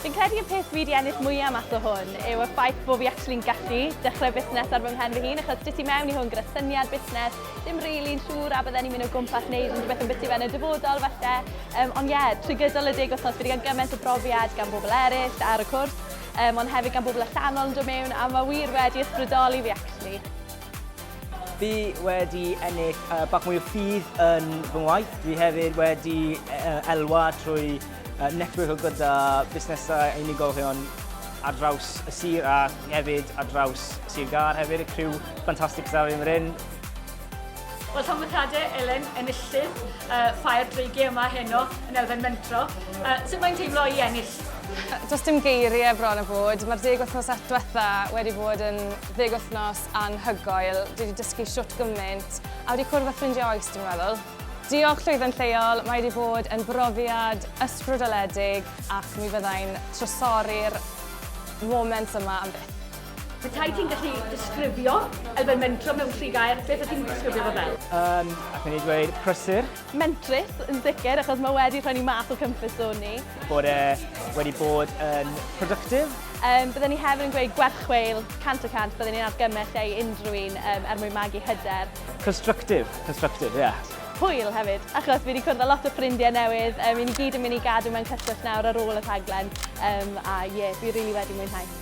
Fi'n credu y peth fi 'di ennill mwya' mas o hwn yw y ffaith bo' fi actually'n gallu dechrau busnes ar fy mhen fy hun achos dwyt ti mewn i hwn gyda syniad busnes, ddim rili'n siŵr a bydden i'n mynd o gwmpas neud unrhywbeth ambyti fe yn y dyfodol falle yym ond ie trwy gydol y deg wthnos fi 'di ga'l gyment o brofiad gan bobl eryll ar y cwrs yym ond hefyd gan bobl allanol yn dod mewn a ma' wir wedi ysbrydoli fi actually. Fi wedi ennill yy bach mwy o ffydd yn fy ngwaith, dwi hefyd wedi yy elwa trwy Netbwyo gyda busnesau a unigolion ar draws y sir a hefyd ar draws Sir Gâr hefyd, y criw ffantastig sydd ar hyn o'r hyn. Wel, Tanwythiadau Elen, enillydd uh, Ffair Dreigiau yma heno yn elfen mentro. Uh, sut mae'n teimlo i ennill? Does dim geiriau bron a bod. Mae'r deg wythnos diwetha wedi bod yn ddeg wythnos anhygoel. Dwi wedi dysgu siwt gymaint a wedi cwrdd â ffrindiau oes, dwi'n meddwl. Diolch Llwyfan Lleol, mae wedi bod yn brofiad ysbrydoledig ac mi fyddai'n trysori'r moments yma am byth. Petai ti'n gallu disgrifio elfen mentro mewn tri gair, beth wyt ti'n disgrifio fo fel? Yn, allwn i ddweud, prysur. Mentrus, yn sicr, achos mae wedi rhoi ni mas o comfort zone ni. Bod e wedi bod yn productive. Um, byddwn ni hefyd yn gweud gwerchweil, cant y cant, byddwn ni'n argymell e i unrhyw un um, er mwyn magu hyder. Constructive, constructive, ie. Yeah. Hwyl hefyd, achos fi wedi cwrdd â lot o ffrindiau newydd. Um, I ni gyd yn mynd i gadw mewn cyswllt nawr ar ôl y rhaglen. Um, a ie, yeah, fi rili really wedi mwynhau.